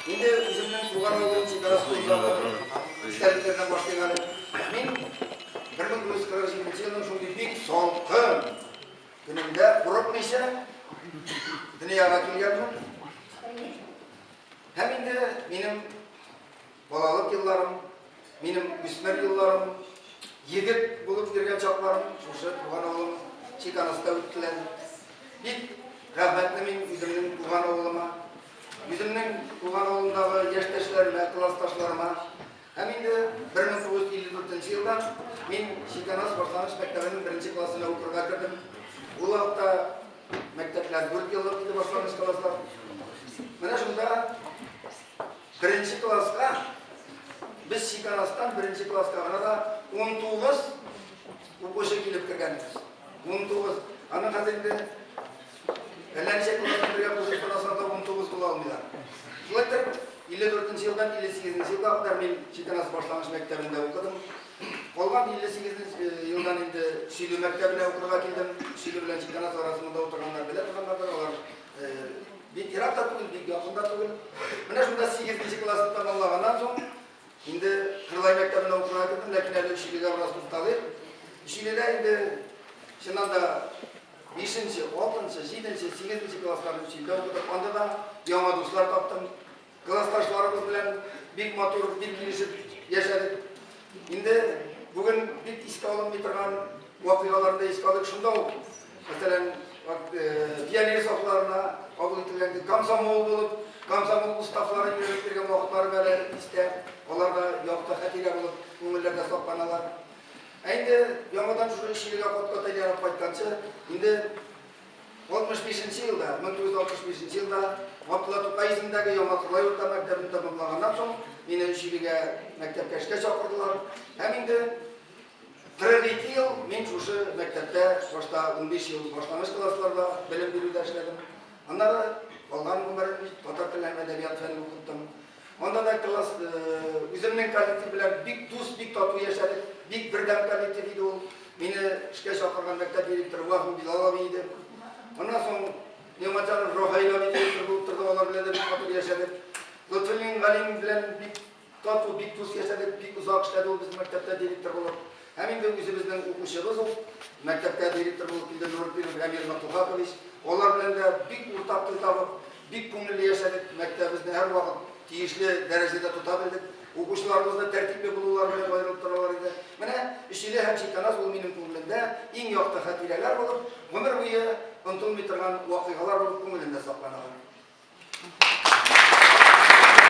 Инде үземнең туган авылым чидарасы узарак истәлекләрдән башлыйк әле. Мин 1947 елның шундый бик салкын көнендә курыкмыйча дөньяга килгәнмен. Һәм инде минем Балалык елларым, минем үсмер елларым, егет булып йөргән чакларым шушы туган авылым Чиканыста үттеләр. Бик рәхмәтле мин үземнең туган авылыма, үземнең туган авылымдагы яшьтәшләремә, классташларыма. Һәм инде 1954 елда мин Чиканас башлангыч мәктәбенең беренче классына укырга кердем. Ул вакытта мәктәпләр дүрт еллык иде башлангыч класслар. Менә шунда Беренче класска, без Чикарастан беренче класска гына да 19 укучы килеп кергәнбез. 19. Аны хәзер инде әллә ничә күргән бергә кушып карасаң да 19 була алмыйлар. Шулай итеп, 54 елдан 58 елга кадәр мин Чикарас башлангыч мәктәбендә укыдым. Калган 58 елдан инде Сөйле мәктәбенә укырга килдем. Сөйле белән Чикарас арасында утырганнар белә торганнардыр, алар Бик ерак та түгел, бик якын да түгел. Менә шунда сигезенче классны тәмамлаганнан соң, инде Кырлай мәктәбенә укырга кердем, ләкин әле Өчилегә бераз тукталыйк. Өчиледә инде чыннан да бишенче, алтынчы, җиденче, сигезенче классларны Өчиледә укыдык. Анда да яңа дуслар таптым. Классташларыбыз белән бик матур, бик килешеп яшәдек. Инде бүген бик искә алынмый торган вакыйгаларны искә алып шунда ук, мәсәлән, пионер э, сафларына кабул ителгән комсомол булып, комсомол уставлары йөреп йөргән вакытлары белән истә, алар да якты хәтирә булып күңелләрдә сакланалар. Ә инде яңадан шушы эшчелегә капка тәгәрәп кайтканчы, инде 65 нче елда, 1965 нче елда Габдулла Тукай исемендәге Яңа Кырлай урта мәктәбен тәмамлаганнан соң, мине Өчилегә мәктәпкә эшкә чакырдылар. Һәм инде 42 ел мин шушы мәктәптә, башта 15 ел башлангыч классларда белем бирүдә эшләдем. Аннары калган гомерен татар телен һәм әдәбият фәнен укыттым. Монда да класс, үземнең коллектив белән бик дус, бик тату яшәдек. Бик бердәм коллектив иде ул. Мине эшкә чакырган мәктәп директоры Ваху Билалов иде. Моннан соң Нематянов Рохаилов директор булып торды, алар белән дә бик тату яшәдек. Лотфуллин Галим белән бик тату, бик дус яшәдек, бик озак эшләде ул безнең мәктәптә директор булып. Һәм инде үзебезнең укучыбыз ук, мәктәпкә директор булып килде Нурпинов Әмир Матухатович. Алар белән дә бик уртак тел табып, бик күңелле яшәдек, мәктәбебезне һәрвакыт тиешле дәрәҗәдә тота белдек. Укучыларыбыз да тәртипле булулары белән аерылып торалар иде. Менә Өчиле һәм Чиканаз ул минем күңелемдә иң якты хатирәләр булып, гомер буе онтылмый торган вакыйгалар булып күңелемдә сакланалар.